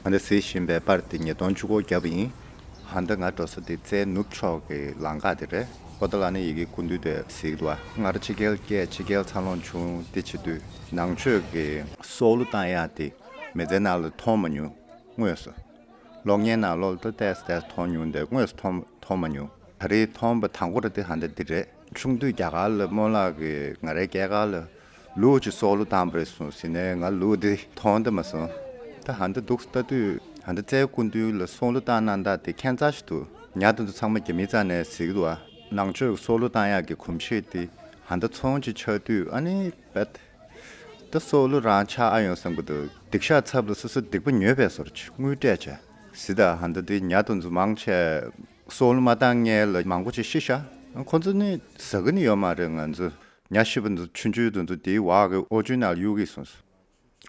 ང་འདི་ཟེར་བཞིན་པའི་པར་དེ་ཉིས་སྟོང་བཅུ་གོ་བརྒྱབ་ཡིན། ཧ་འདི་ང་འགྲོ་ས་འདི་རྩའི་ནུབ་ཕྱོགས་ཀྱི་ལང་ཀ་དེ་རེད་ཨོ་ད་ལ་ནི་ཡི་གེ་ཀུན་འདུས་དེ་ཟིག་བ། སྔར་ཕྱི་རྒྱལ་སྐད་ཕྱི་རྒྱལ་འཚར་ལོངས་བྱུང་དེ་བྱེད་དུས་ནང་ཆོས་ཀྱི་སྲོག་བསླུ་བཏང་ཡ་དེ་མི་ཚེ་ནང་ལ་མཐོང་མ་མྱོང་དངོས་སུ། གློག་བརྙན་ནང་ལོ་ལྟ་བལྟས་བལྟས་མཐོང་མྱོང་དེ་དངོས་སུ་མཐོང་མ་མྱོང་ད་རེས་མཐོང་པ་དང་པོ་རེད་དེ་ཧ་འདི་འདི་རེད། ཆུང་དུས་རྒྱ་གར་ལ་སྨོན་ལགས་ཀྱིས་ང་རའི་སྐྱེས་སྐར་ལ་ལུས་ཀྱི་སྲོག་ལོ་དང་བས་སོང་ཟེར་ནས་ང་ལུས་འདི་མཐོང་དུ་མ་སོང། ད་ཧ་འདི་འདུག་ལྟ་དུས་ཧ་འདི་རྩའི་སྐུ་མདུན་ལ་སྲོག་ལོ་བཏང་གནང་དག་དེ་མཁྱེན་རྩ་ཞིག་ཏུ་ཉར་དུ་འདུག་ཚང་མ་རྒྱ་མི་རྩ་ནས་གཟིགས་འདུག་ཨ། ནང་ཆོས་ཀྱི་སྲོག་ལོ་བཏང་ཡག་གི་གོམས་གཤིས་དེ་ཧ་འདི་ཚོང་ཅིག་ཆགས་དུས་ཨ་ནི་བས། འདི་སྲོག་ལོ་རང་ཆགས་ཨ་ཡོང་བསམ་གི་འདུག་སྡིག་ཤག་ཚབ་ལ་སོ་སོ་སྡིག་པ་ཉོས་པས་སོར་ཆུད་དངུལ་སྤྲད་བྱས་ཟིན་ད་ཧ་འདི་འདི་ཉར་དུ་འདུག་མང་ཆེ་སྲོག་ལོ་མ་བཏང་ངེས་ལ་མང་པོ་ཅིག་ཤི་ཤག་ཁོང་ཚོ་ནི་ཟ་གི་ནི་ཡོད་མ་རེད་ང་ཚོ་ཉག་བཞི་པོ་འདི་ཚོ་ཆུང་ཆུང་དུ་འདུག་དེའི་བར་གྱི་ཨོ་ཆུང་ནག་གཡུག་གི་སོང་སོང།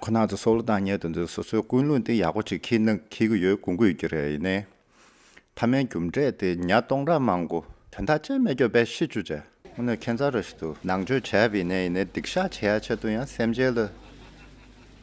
ཁོ་ནག་ཚོ་སོ་ལོ་བཏང་ཉལ་དུ་འདུག་སོ་སོའི་ཀུན་སློང་དེ་ཡག་པོ་ཅིག་ཁྱེད་ནང་ཁྱེར་གྱི་ཡོད་གུ་གུ་ཡོད་ཀྱི་རེད་ཡིན་ནའི། ཐ་མའི་རྒྱུ་འབྲས་དེ་ཉག་སྟོང་ར་མང་གོ། དོན་དག་ཅན་མེད་སྐྱོ་བས་ཤི་བཅུག་བྱས། ངོ་ནས་ཁྱེད་ཚ་ར་ཞིག་འདུག་ནང་ཆོས་བྱས་པ་ཡིན་ནའི་ཡིན་ནའི་སྡིག་བཤགས་བྱེད་ཡ་ཆེད་དུ་ཡང་སེམས་ཅན་ལ།